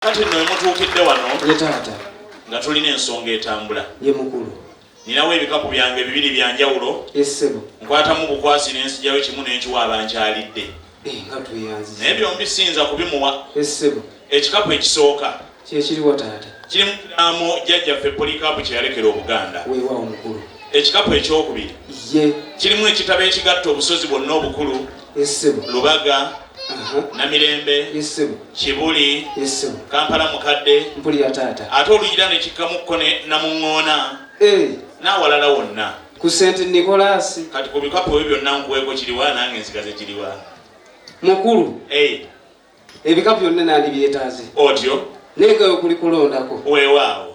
kati nno emutuukidde wano ye taata nga tulina ensonga etambula ye mukulu ninawo ebikapu byange bibiri bya njawulo esebo nkwatamu bukwasi n'ensijayo kimu n'enkiwa abankyalidde eh, nga tweyanzi naye byombi siyinza kubimuwa esebo ekikapu ekisooka kyekiriwa taata kirimu kiraamo jjajjaffe polikaapu kye yalekera obuganda weewaawo mukulu ekikapu ekyokubiri ye kirimu ekitabo ekigatta obusozi bwonna obukulu esebo lubaga namirembe kibuli kampala mukadde ate olugira nekikkamuko namuŋoona eh. n'awalala wonna ku senti nikolaasi kati ku bikapu ebyo byonna nkuweeko kiriwa nange ensigaze kiriwa mukulu eh. ebikapu byonna nandibyetaaze otyo naye gawe kuli kulondako weewaawo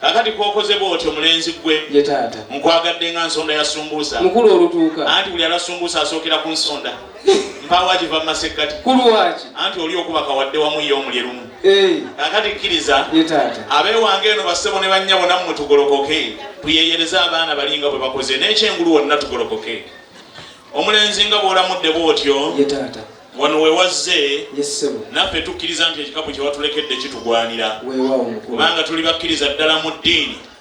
kakati kwokoze bwoti omulenzi gwe yetaata nkwagadde nga nsonda ya sumbuusa mukulu olutuuka anti buli ala sumbuusa asookera ku nsonda mpawa giva mu masekkati kulwaki anti oli okubaka wadde wamu ye omulye lumu kakati kkiriza yetaata abeewange eno bassebo ne bannya bona mu mutugolokoke tuyeyereze abaana bali nga bwe bakoze n'ekyengulu wonna tugolokoke omulenzi nga bwolamudde bwotyo yetaata wano wewazze naffe tukkiriza nti ekikapu kyewatulekedde kitugwanira kubanga tuli bakkiriza ddala mu ddiini